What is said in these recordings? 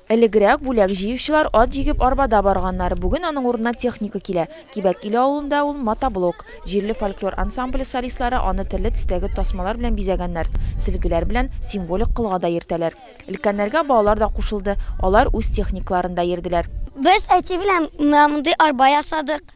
Элегрәк бүләк җыючылар ат җигеп арбада барганнар, бүген аның урынына техника килә. Кибәк Иле авылында ул мотоблок. Җирле фольклор ансамбле солистлары аны төрле төстәге тасмалар белән бизәгәннәр, сөлгеләр белән символик колга да йөртәләр. Өлкәннәргә балалар да кушылды, алар үз техникаларында йөрделәр. Без әти белән менә мондый арба ясадык.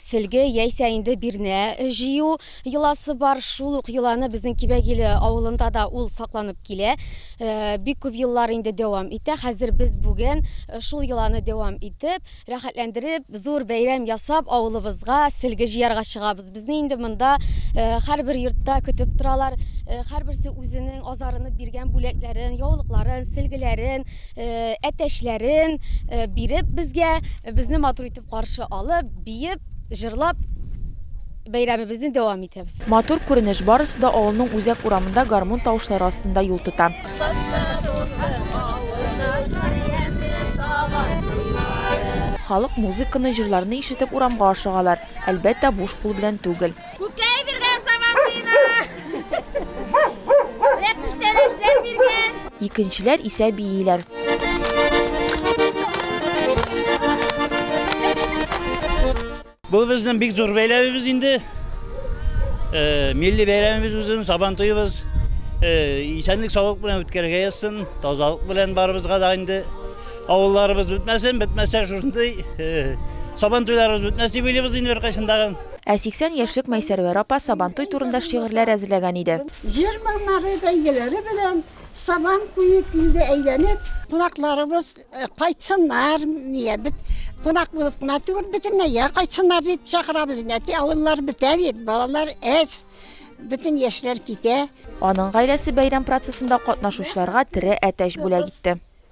Сөлге яисә инде бирнә җыю йоласы бар. Шул ук йоланы безнең Кибәгиле авылында да ул сакланып килә. Бик күп еллар инде дәвам итә. Хәзер без бүген шул йоланы дәвам итеп, рәхәтләндереп, зур бәйрәм ясап, авылыбызга сөлге җыярга чыгабыз. Безне инде монда һәрбер йортта көтеп торалар. Һәрберсе үзенең азарынып биргән бүләкләрен, яулыкларын, сөлгеләрен, әтәчләрен биреп безгә, безне матур итеп Каршы алып, биеп, җырлап бәйрәмебезне дәвам итәбез. Матур күренеш, барысы да авылның үзәк урамында гармун тавышлары астында юл тота. Халык музыканы, җырларны ишетеп урамга ашыгалар. Әлбәттә, буш кул белән түгел. Күкәй биргән сабантуена! Рәпүштәләшләр биргән! Икенчеләр исә бииләр. Бу безнең бик зур бәйләбебез инде. Э, милли бәйрәмебез үзен сабан туйыбыз. Э, исәнлек саулык белән үткәрергә язсын. Тазалык белән барыбызга да инде авылларыбыз бетмәсен, бетмәсә шушындый э, сабан туйларыбыз бетмәс дип уйлыйбыз инде беркайчан тагын. Ә 80 яшьлек Мәйсәрвәр апа Сабантуй турында шигырьләр әзерләгән иде. Җыр моңнары, бәйгеләре белән Сабан куеп, илдә әйләнеп. Кунакларыбыз кайтсыннар, нигә бит кунак булып кына түгел, бөтенләйгә кайтсыннар дип чакырабыз инде. Әти, авыллар бетә бит, балалар әз, бөтен яшьләр китә. Аның гаиләсе бәйрәм процессында катнашучыларга тере әтәч бүләк итте.